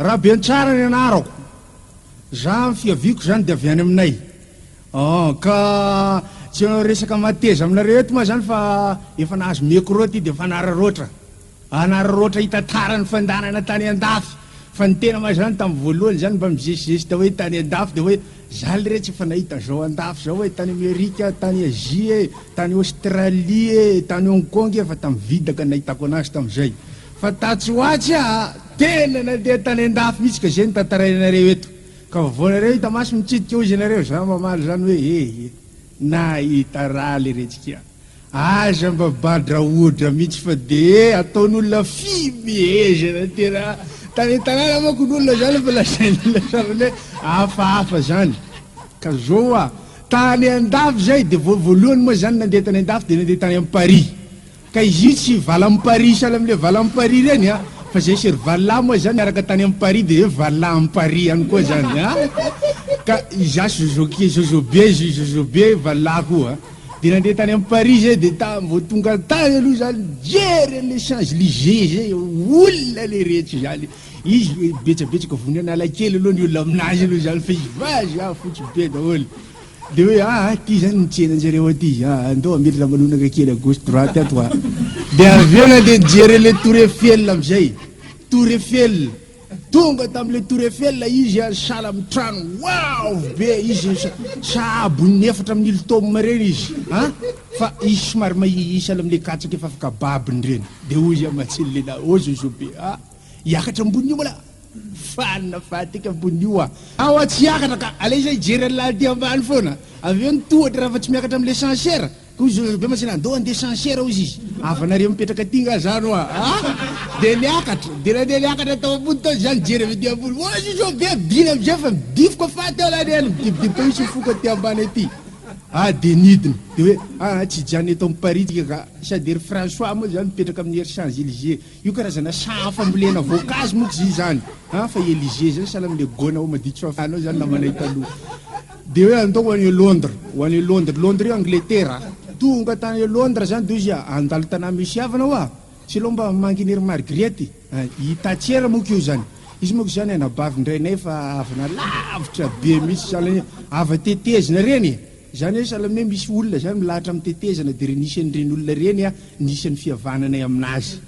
Rabentsara ny anarako. Za am fiaviako zany de avy any aminay. An ka tsy hanao resaka mateza aminareo eto ma zany fa efa nahazo micro ty de fanararaotra. Anararaotra hitantara ny fandehanana tany andafy. Fa ny tena ma zany tam voalohany zany mba mizesizesita hoe tany andafy de hoe za le re tsy efa nahita zao andafy zao e, tany Amerika a, tany Azia e, tany Australie e, tany Hong Kong e fa tam vidaka nahitako anazy tamzay. Fa tatsy ho atsy aho tena nandeha tany an-dafy mihitsy ka izay no tantarainareo eto. Ka vaovao nareo hita maso mitsidika hozy ianareo, za mamaly izany hoe ehe, nahita raha le retsikia. Aza mba badraodra mihitsy fa dia ataon'olona fihmehezana tena. Tany an-tanàna manko ny olona izany efa lazain'olona sarobidy hoe hafahafa izany. Ka izao hoa, tany an-dafy izay dia vao voalohany moa izany nandeha tany an-dafy dia nandeha tany am-parihy. Ka izy io tsy valam paris sahala amle valam paris reny a! Fa zay se ry vallah moa zany niaraka tany am paris de zay vallah am paris any koa zany a! Ka izaho zozoke zozobe zio zozobe vallah koa de nandeha tany am paris zay de ta vao tonga tany aloha za nijery anle change lize zay olona le rehetra zany izy betsabetsaka vony analakely aloha ny olona aminazy aloha zany fa izy vazaha fotsy be daholo. Dia hoe ah aty izany ny tsenan-jareo aty ah andao hamely ramanonaka kely à gauche droite ato ah. Dia avy eo nandeha nijery an'ilay tour Eiffel amin'izay. Tour Eiffel. Tonga tamin'ilay tour Eiffel izy ah sahala amin'ny trano avo be izy sahabon'ny efatra amin'ny ltôme ireny izy ah fa izy somary mahia sahala amin'ilay katsaka efa afaka babiny ireny. Dia hoy izy aho matsilo lehilahy ô zozo be ah hiakatra ambony io malà. Mifanina fatiky ambony io ah. Ao aho tsy hiakatra ka, aleo izaho hijery an'ilay aty ambany foana. Avy eo ny tohatra raha fa tsy miakatra amin'ilay censeur. Koa izy Zozobe mantsy na ndao handeha censeur hozy izy. Havanareo mipetraka aty nga zany hoa a! Dia niakatra, dia nandeha niakatra tao ambony tao izaho nijery avy aty ambony. Hoy Zozobe bina amin'izay fa midifoka faty aho lany ela midibodibika eo izy mifoka aty ambany aty. Ah dia nidina. Dia hoe, ah tsy hijanona eto amin'ny Paris tsika ka. Sady ry François moa izany mipetraka amin'ny Ers Champs Elysées. Io karazana saha fambolena voankazo moa zy zany a fa i Elisée zany sahala amin'ilay gôna ao Maditsoafy any ao zany namanay taloha dia hoe andao ho any Londres ho any Londres Londres io Angletera tonga tany Londres zany dia izy andalo tanà misy havana hoa tsy aleo mba manginy ry Margriette i Tatiera moa io zany izy moa zany anabavin-drainay fa havana lavitra be mihitsy sahala ny hava tetezina ireny e Izany hoe sahala amin'ny hoe misy olona izany milahatra amin'ny tetezana dia ren'isa an'ireny olona ireny a ny isan'ny fihavananay aminazy.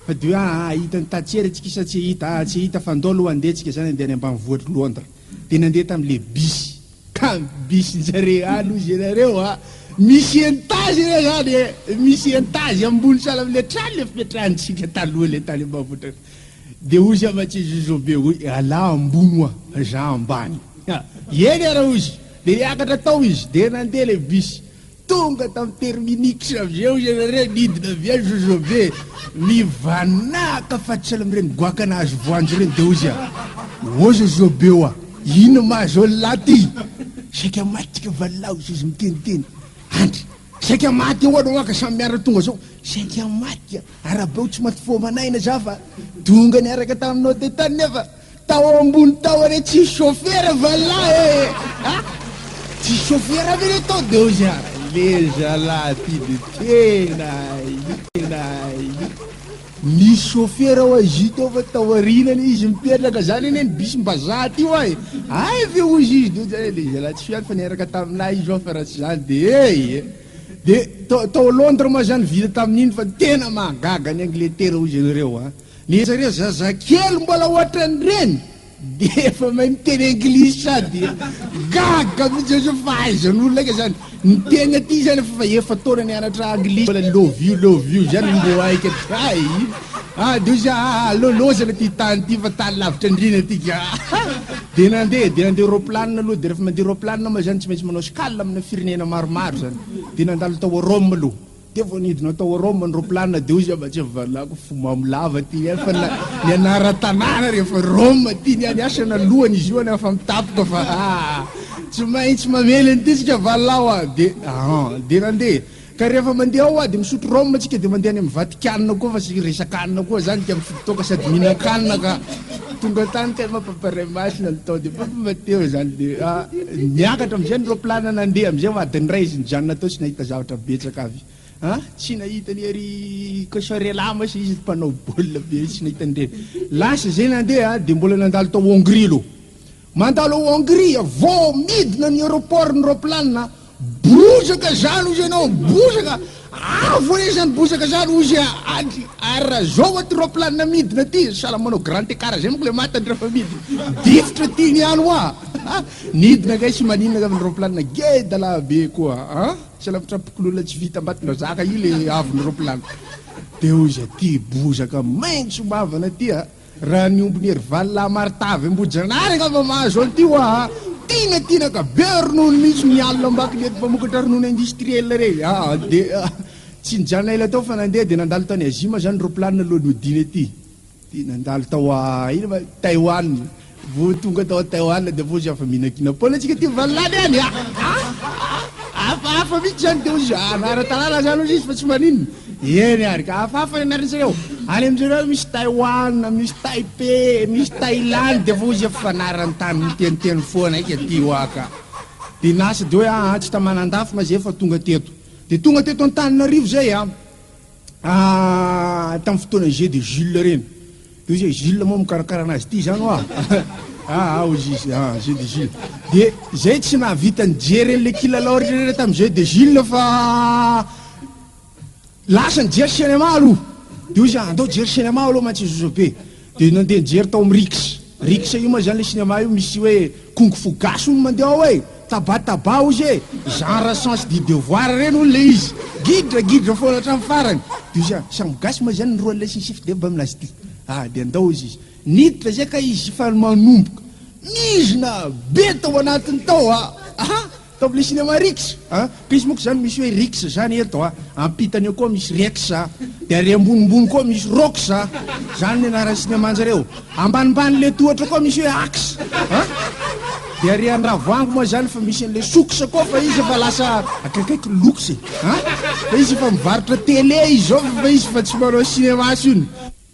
Fa dia hoe aa hahita ny tatiera tsika sa tsy hahita aa tsy hahita fa ndao loha andeha tsika izany andeha any ambanivohitry Londres. Dia nandeha tamin'le bus. Tamin'ny bus njare any hozy ianareo a! Misy entazy anie izany e! Misy entazy ambony sahala amin'le trano le fipetrahantsika taloha le tany ambanivohitra. Dia hozy aman-tsy Jojobe hoe ialahy ambony hoa za ambany. Eny ara hozy. Dia niakatra tao izy, dia nandeha ilay bus. Tonga tamin'ny terminix avy eo izy avy ary nidina avy any Zozobe. Nivanaka fa tsy amin'ireny goaka nahazo voanjo ireny, dia hoy izy aho, Ô Zozobe ô, inona mahazo an'lah ty? Saika maty tsika vallah, hoy Zozo miteniteny. Andry, saika maty ahoana hoa ka samy miara tonga zao? Saika maty ka, arabe o tsy maty foa aman'aina za fa tonga niaraka taminao teto tany nefa. Tao ambony tao anie tsisy chauffeur va lahy ee a! Tsisy chauffeur ve le tao de hozy a! Le zalahy ty de tena tena nisy chauffeur ao azy tao fa tao aoriana anie izy mipetraka zany anie ny bus mba zah ty hoa e! Hay ve hozy izy de hozy a! Le zalahy tsy fiany fa niaraka taminah izy hoa fa raha tsy zany de hey e! De tao Londres moa zany vita tamin'iny fa tena mahagaga ny angletera hozy ianareo a! Nefa ireo zazakely mbola ohatran'ireny dia efa mahay miteny anglisy sady gaga mihitsy zany sao fahaizan'olona aika zany miteny aty zany fa efa taona nianatra anglisy mbola love you love you zany mbo aika hay ah de ozy ah aloloazana ty tany ty fa tany lavitra andriana ty ka de nandeha de nandeha roplanina aloha de refa mandeha roplanina ma zany tsy maintsy manao escale amina firenena maromaro zany de nandalo tao Rome aloha Dia vao nidina tao Rome ny roplanina dia hoy izy hoe mba tsy avalako fo mamo lava ty ny ahy fa ny anaran-tanàna rehefa Rome ty ny ahy, ny ahy sena lohany izy io any afa mitapika fa aa tsy maintsy mamely an'ity tsika valao a! dia aa dia nandeha ka rehefa mandeha ao a dia misotro Rome tsika dia mandeha any amin'ny Vatikanina koa fa tsy resak'anona koa zany ka mifidy toaka sady mihinan-kanina ka Tonga tany tena mampaparay maso ny an'i Tody fa fomba teo izany dia niakatra amin'izay ny roplanina nandeha amin'izay ho adin'ny iray izy nijanona tao tsy nahita zavatra betsaka avy a tsy nahita ny ery Kosorela moa izy mpanao baolina be tsy nahita an'ireny lasa izay nandeha dia mbola nandalo tao Hongrie aloha Mandalo ao Hongria, vao midina ny aeroport ny roplanina, bozaka zany hozy enao, bozaka, avo anie zany bozaka zany hozy a, andry, ary raha zao aty roplanina midina aty, sahala manao grand ecart zay manko le maty andry refa midina, difotra aty ny any hoa, ha, nidina kay sy maninona kay ny roplanina, geda lahy be koa a, selampitrapokolona tsy vita ambatondrazaka io le avon'ny roplanina, de hozy aty bozaka maintso mavana aty a, Raha ny ombin'i Herival lahy Martha avy Ambohijanahary angamba mahazo an'ity hoa a! Tiana tiana ka! Be ronono mihitsy ny alina ambakiny eto fa mokatra ronono industriel re! Ah! Dia ah! Tsy nijanona ela tao fa nandeha dia nandalo tany Azima izany roplanina alohan'ny hodiana ety. Dia nandalo tao ah! Ino ma? Taiwan. Vao tonga tao Taiwan dia vao zava mihinankinan paona tsika aty valany any ah, ah, hafahafa mihitsy zany dia ozy ara-tanàna zany ozy izy fa tsy maninona eny ary ka hafahafa ny anarany zareo any aminjareo misy Taiwan misy Taipei misy Thailand dia vao ozy efa fanarany tany miteniteny foana ika aty hoa ka dia nasa dia hoe ah, ah tsy tamanandafy ma zay fa tonga teto dia tonga teto Antananarivo zay ah. Ah tam fotoana jeu de Jules reny de ozy oe Jules moa mikarakara anazy ty zany oa ah ah ozy izy ah jeu de Jules de zay tsy nahavita nijery anle kilalao retrareta tam jeu de Jules fa lasa nijery cinéma aloha de ozy ah andao jery cinéma aloha mantsy zozobe Dia nandeha nijery tao amin'ny Riks. Riks io ma izany ilay sinema io misy hoe kung fu gasy hono mandeha ao e! Taba taba hozy e! Genre sens du devoir ireny hono ilay izy. Gidra gidra foana hatramin'ny farany. Dia hozy aho, samy gasy ma izany ny roa lesy nisy fideba amin'azy ity? Ah, dia andao hozy izy. Niditra izay ka izy sy Fano manomboka mizina be tao anatiny tao a! Table cinéma Rix a! Pisy moa ko zany misy hoe Rix zany eto a! Ampitany eo koa misy Rex a! De ary ambonimbony koa misy Rox a! Zany ny anaran'ny cinéma njareo! Ambanimbanin'le tohatra koa misy hoe Ax a! De ary andravoahangy moa zany fa misy an'le Sox koa fa izy efa lasa akaikaiky Lox e! A! Fa izy efa mivarotra télé izy zao fa izy fa tsy manao cinéma tsony!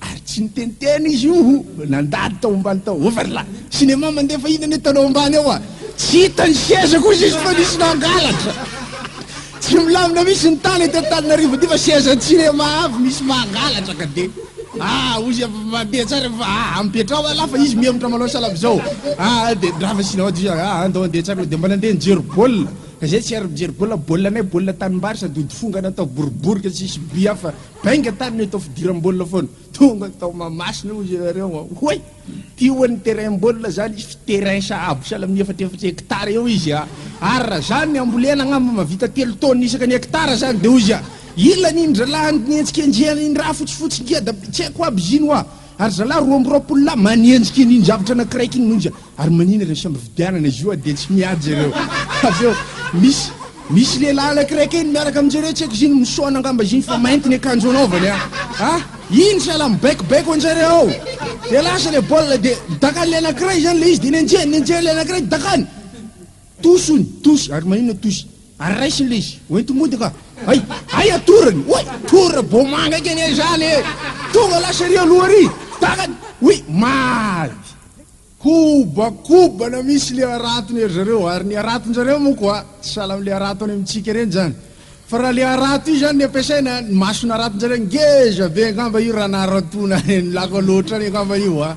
Ary tsy niteniteny izy io ho nandady tao ambany tao. Overla. Cinéma mandefa inona anie tanao ambany ao a? Tsy hita ny seza kosa izy fa nisy nangalatra. Tsy milamina mihitsy ny tany eto Antananarivo aty fa sezan'ny cinéma avy misy mangalatra ka dia ah hoy izy avy mandeha tsara fa ah ampetraho aloha fa izy mihemotra manao salama zao. Ah dia ndra fa sinao aty izy ah andao andeha tsara dia mba nandeha nijery baolina. Ka zay tsy ary mijery baolina, baolina anay baolina tanimbary sady ody fongana atao boribory ka tsisy but hafa. Bainga tany no atao fidiram-baolina foana. Tonga tao Mahamasina hozy ianareo an. Hoy, ty ho'a ny terrain-baolina izany izy f'y terrain sahabo sahala amin'ny efatra efatra hectare eo izy an. Ary raha izany ny hambolena angamba mahavita telo taonina isaka ny hectare izany dia hozy an. Ilany iny ralahany ny hetsika enjehana iny raha fotsifotsy ngeda. Tsy haiko aby izy iny ho'a. Ary zalahy roa amby roapolo lahy manenjika iny zavatra anakiraiky iny monja ary manina ireo samy vidianana izy io a dia tsy mihaja ireo avy eo misy misy lehilahy anakiraiky eny miaraka aminjareo tsy haiko izy iny misaona angamba izy iny fa mainty ny akanjo anaovany a a iny sahala mibaikobaiko anjareo ao dia lasa le baolina dia dakan'le anakiray zany le izy dia nenjehany nenjehany le anakiray dakany tosony tosy ary manina tosy Ary raisiny le izy, hoento mody ka. Hay, hay atorony, oay, tora bomanga eke anie izany e! Tonga lasa ery aloha ery, takany, oui, maivy. Kobakobana misy le haratony ery zareo, ary ny haraton-jareo moa koa tsy sahala amin'le harato any amintsika ireny izany. Fa raha le harato io izany ny ampiasaina, ny mason'ny haraton-jareo ngeza be angamba io raha naharato-na lako loatra any angamba io a!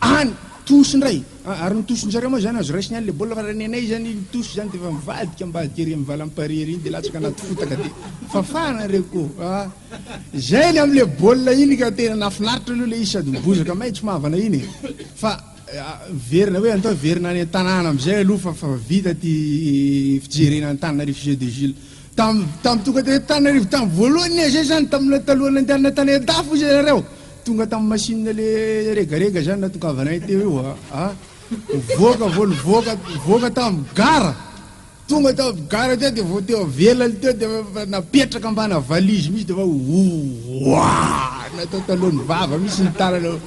Any! Tosy indray! Ah, ary ny tosin-dry zareo moa izany azo raisina ihany ilay baolina fa raha ny anay izany iny tosy izany dia efa mivadika ambadika ery amin'ny valam-parihy ery iny dia latsaka anaty fotaka dia fafana ireo ko ah! Izay ilay amin'ilay baolina iny ka tena nahafinaritra aloha ilay izy sady mibozaka maitso mavana iny e! Fa miverina hoe andao hiverina any an-tanàna amin'izay aloha fa fa vita ity fijerena an'Antananarivo sy Jeux de Gilles. Tamin'ny tamin'ny tonga teto Antananarivo tamin'ny voalohany anie izay izany tamin'ilay talohan'ny nandehanana tany an-dafy hoy izy ianareo. Tonga tam machine le regarega zany natokavanay teo io a! Nivoaka vao nivoaka nivoaka tam gara! Tonga tam gara teo de vao teo avelany teo de fa napetraka ambana valise mihitsy de fa ouah! Natao talohan'ny vava mihitsy ny tanana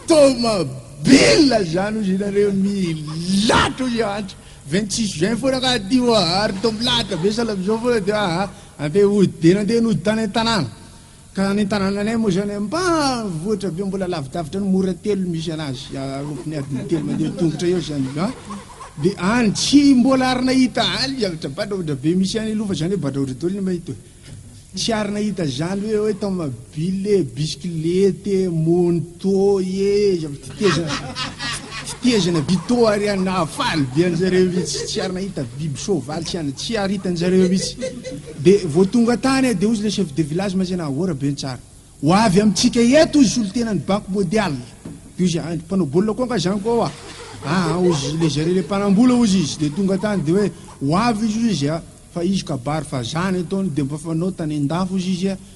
Tomabila zany ozy nareo milatra ozy antra! 26 juin foana ka aty oa ary to milatra be sahala amzao foana de aa! Andeha hody de nandeha nody tany an-tanàna. Ka ny tanànanay moa izany ambanivohitra be mbola lavidavitra ny mora telo misy anazy arompony adiny telo mandeha tongotra eo izany a dia any tsy mbola ary nahita any zavatra badraodra be misy any aloha fa izany hoe badraodra daholo ny mahita hoe tsy ary nahita izany hoe hoe tomobile bisikilete monto e zavatra tetezana tetezana vito ary any nahafaly be anjareo mihitsy tsy ary nahita biby soavaly tsy any tsy ary hitanjareo mihitsy De vao tonga tany dia ozy le chef de village maizena ahoana be ny tsara ho avy amintsika eto ozy solontenany bako modial de ozy aah mpanao baolina koa nga zany koa aah ozy le zare le mpanambola ozy izy de tonga tany de hoe ho avy izy ozy izy fa izy kabary fa zany ataony de mba fanao tany andafy ozy izy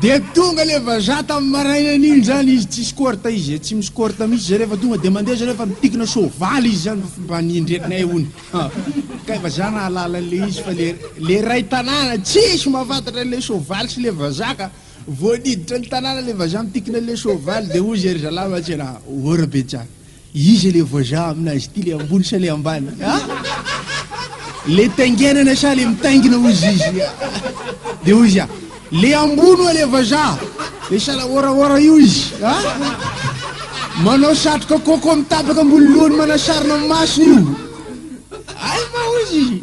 Dia tonga le vazaha tamin'ny marainany iny zany izy tsy scorta izy e, tsy mi scorta mihitsy zay rehefa tonga dia mandeha zay rehefa mipikina soavaly izy zany fa mba niendrenay hono ha kay vazaha nahalala an'le izy fa le le ray tanàna tsisy mahafantatra an'le soavaly sy le vazaha ka vao niditra ny tanàna le vazaha mipikina an'le soavaly dia hoy zay ry zalahy mantsy anah, ora be tsara. Iza le voajà amin'azy ity, le ambony sa le ambany a? Le taingenana sa le mitaingina hozy izy a? De hozy a, le ambony oa le vazà, le salahoraora io izy a? Manao satroka coco mitapaka ambony lohany manasarona masony io. Ay ma hozy izy.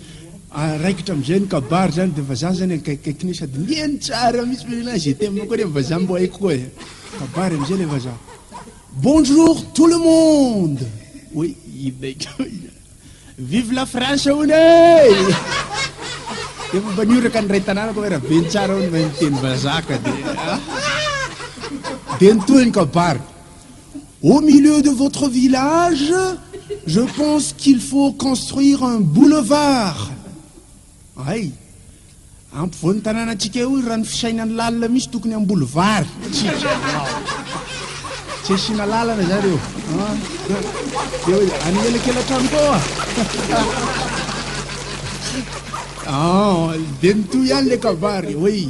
raikitra amizay ny kabary zany de vazaha zany akaikikaiky ny sady mihaino tsara mitsy le lehilahy ze teminao koa nefa vazaha mbo haiko koa e kabary amizay le vazaha bonjour tout le monde oe inona io vive la france hono e efa mba nioraka ny ray tanàna koa raha be ny tsara hono mba niteny vazaka de de nitohy ny kabary Au milieu de votre village, je pense qu'il faut construire un boulevard! Hay! Ampovoan'ny tanànantsika eo io raha ny fisainan'ny lalina mihitsy tokony hamboly vary isika. Tsy asiana lalana izany eo. Dia hoe any elakelatrano koa. Dia nitohy ihany ilay kabary hoe.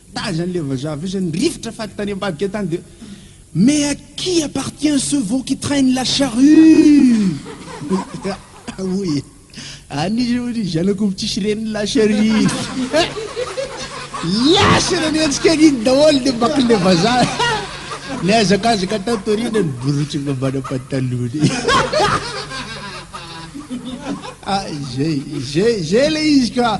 Taiza anle vazaha avy eo zany rivotra faty tany ambadika tany de Mais à qui appartient ce veau qui traine la charrue? Hoy e, any izy hono ry zanak'omby tsisy reniny la charrue iny. Lasa nanenjika an'iny daholo ny makinle vazaha. Nihazakazaka tato aoriana ny borotsiny mambana patalohany. Ah, zay, zay, zay le izy ka.